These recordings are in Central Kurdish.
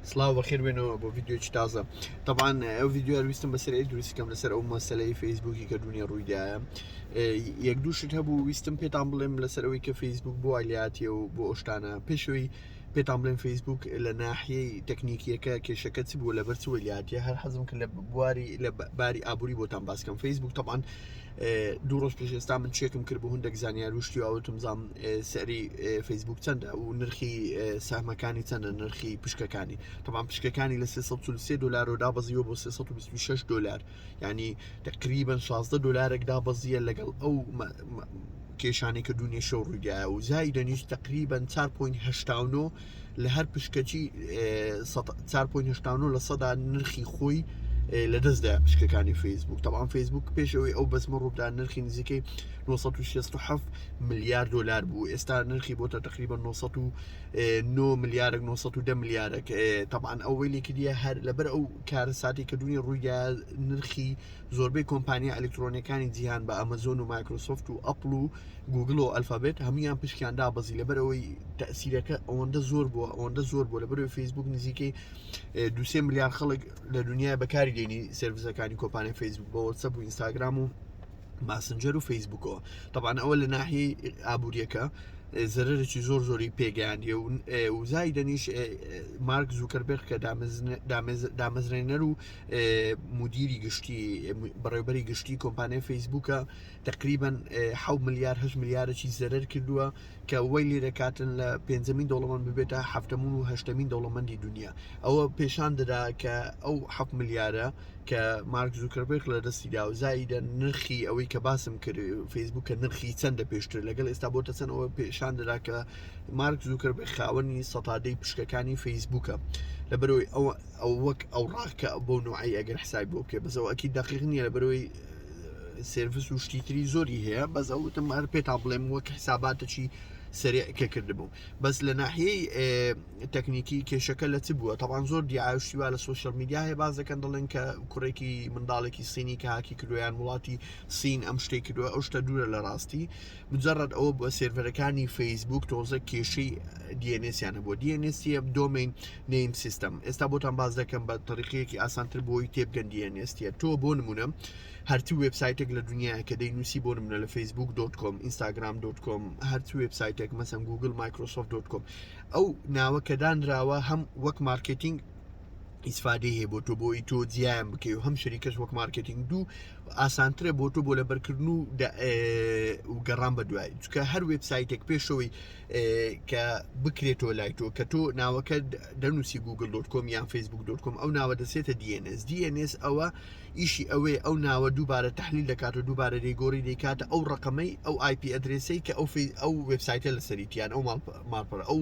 سلااو بەخێر بێنەوە بۆ یددیوی تازە تەبان ئەو یددیو ویستم بەسەر دروستکەم لەسەر ئەو مەسلەی فەیسبوکی کە دونیا ڕوویدایە یەک دووشت هەبوو ویستم پێتان بڵێم لەسەر ئەوی کە فەیسبوک بۆ ئالیاتیە و بۆ ئۆشتانە پێشەوەی پێتان بڵێن فەیسبوک لە ناحیەی تەکنیکیەکە کێشەکە چ بوو لە بەرچوەلیاتە هەر حەزم کە لە بواری لە باری ئابووری بۆتان باسکەم فەیسبوک تەبان دوو ڕۆژ پێش ئێستا من چێکم کرد بۆ هەندێک زانیار و شتی ئەوتم زام سەری فەیسبوک چەندە و نرخی سەمەکانی چەندە نرخی پشکەکانی تەمان پشکەکانی لە 3 دلار و دابەزیوە بۆ 326 دلار ینی تقریبن 16 دلارێک دابەزیە لەگەڵ ئەو کێشانی کە دونیشە و ڕوودایە و زای دەنیش تقریبن 4.9 لە هەر پشکەچی چار پۆین هشتانۆ لە سەدا نرخی خۆی لە دەستدا پشکەکانی فەیسبوک تاوان فەیسبوک پێشەوەی ئەو بەزمە ڕوودا نرخی نزیکەی 1967 ملیار دلار بوو ئێستا نرخی بۆتە تقریبا 1990 ملیارێک 1970 ملیارێک تاوان ئەوەی لێکردە هەر لەبەر ئەو کارە ساتی کە دونی ڕوویدا نرخی زۆربەی کۆمپانیا ئەلکترۆنەکانی جیهان بە ئەمەزۆن و مایکرۆسۆفت و ئەپل و گوگڵ و ئەلفابێت هەمویان پشکیان دابەزی لەبەر ئەوەی تەسیرەکە ئەوەندە زۆر بووە ئەوەندە زۆر بوو لە بەرەوەی فیسبوک نزیکەی دوسێ ملیار خەڵک لە دنیای بەکاری دێنی سرویسەکانی کۆپانی فیسبوک بە وەسە بوو ئینستاگرام و ماسنجەر و فیسبوکەوە تەبان ئەوە لە ناحی ئابوووریەکە زەرەرێکی زۆر زۆری پێگەیاندی و وزای دەنیش مارک زووکەربێخ کە دامەزرێنەر و مدیری گشتی بەڕێبەری گشتی کۆمپانیای فەیسبووکە تەقریبەن حەوت ملیار هەشت ملیارەکی زەرەر کردووە کە وەی لێ دەکاتن لە پێنجەمین دەوڵەمەند ببێتە هەفتەمون و هەشتەمین دەوڵەمەندی دنیا ئەوە پێشان دەدا کە ئەو حەف ملیارە کە مارک زوکربێک لە دەستی دا و زایدە نرخی ئەوەی کە باسم کرد فەیسبوک کە نرخی چەندە پێشتر لەگەڵ ئێستا بۆتە چەند ئەوە پێشان دەدا کە مارک زوکربێ خاوەنی سەتادەی پشکەکانی فەیسبوکە لە بەرەوەی ئەوە ئەو وەک ئەو ڕاکە بۆ نوعی ئەگەر حسای بۆ بکە بەسەوەکی دقیق نییە لە بەرەوەی سێرڤس و شتی تری زۆری هەیە بەس ئەوتم هەر پێ تا بڵێم وەک حساباتەکی سرێ کە کردبوو بەس لە ناحیەی تەکنیکی کێشەکە لە چ بووە تاوان زۆر دیعاشتیوا لە سوۆشل میدیا هەیە باز دەکەن دەڵێن کە کوڕێکی منداڵێکی سینی کە هاکی کردویان وڵاتی سین ئەم شتێک کردووە ئەو شتە دوورە لە ڕاستی مجەڕەد ئەوە بووە سێرڤەرەکانی فەیسبووک تۆزە کێشەی دیێنێسیان هەبووە دیێنێسیە دۆمین نیم سیستم ئێستا بۆتان باز دەکەم بە تەریقەیەکی ئاسانتر بۆی تێبگەن دیێنێستیە تۆ بۆ نمونە هەرچی وبسایتێک لە دنیا کە دەی نووسی بۆ نمونە لە فەیسبوک دۆت کۆم ئینستاگرام دۆت کۆم هەرچی وبسایتێک مەسم گوگل مایکرۆسۆف دۆت کۆم ئەو ناوە کە دانراوە هەم وەک مارکتینگ ئیسفادەی هەیە بۆ تۆ بۆی تۆ جیان بکەی و هەم شەریکەش وەک مارکتینگ دوو ئاسانترە بۆ تۆ بۆ لە بەرکردن و و گەڕان بە دوای چکە هەر وبسایتێک پێشەوەی کە بکرێتەوە لای تۆ کە تۆ ناوەکە دەنووسی گوگل دۆت کۆم یان فیسبوک دۆت کۆم ئەو ناوە دەسێتە DNS DNS ئەوە ئیشی ئەوەی ئەو ناوە دووبارە تحلیل دەکات و دووبارە دەیگۆری دەیکاتە ئەو ڕقمەی ئەو آیپی ئەدرێسی کە ئەو ئەو وبسایتە لە سەریتیان ئەو ماڵپەر ئەو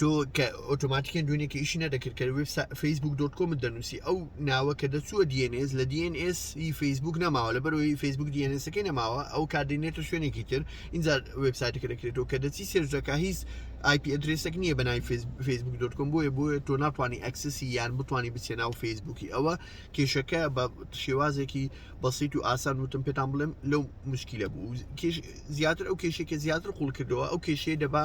تۆ کە ئۆتۆماتیکن دوێنێکی ئیشی نەدەکرد کە وێب فەیسبوک دۆت کۆمت دەنووسی ئەو ناوە کە دەچووە DNS لە DNS ی فەیسبوک نەماوە لە بەرەوەی فەیسبوک DNSەکەی نەماوە ئەو کاردێنێتە شوێنێکی تر اینجا وبسایتەکە دەکرێتەوە کە دەچی سێرجەکە هیچ آیپی ئەدرێسێک نییە بەنای فەیسبوک دۆت کۆم بۆیە بۆیە تۆ ناتوانانی ئەکسسی یان بتانی بچێ ناو فەیسبوکی ئەوە کێشەکە بە شێوازێکی بەسییت و ئاسان وتم پێتان بڵێم لەو مشکیلە بوو کێش زیاتر ئەو کێشێکە زیاتر قوڵ کردەوە ئەو کێشەیە دەبا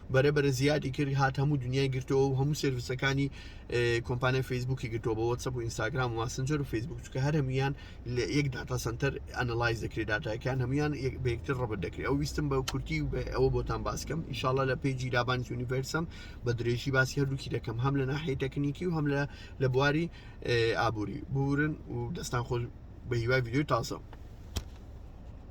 بەرەبەرە زیادی کرد هات هەموو دنیای گرتەوە و هەموو سرویسەکانی کۆمپانای فەیسبوکی گرتەوە بە وەسەب و ئینستاگرام و ماسنجەر و فەیسبوک چکە هەر هەمویان لە یەک داتا سنتەر ئەنەلایز دەکرێت دااتایکان هەمویان بەکتر ڕبت دەکرێت ئەو ویستم بە کورتی و ئەوە بۆتان باسکەم ئیشاالله لە پێی جیرابانی یونیڤرسم بە درێژی باسی هەردووکی دەکەم هەم لە ناحی تەکنیکی و هەم لە لە بواری ئابووری بورن و دەستان خۆش بە هیوای ویددیو تازە.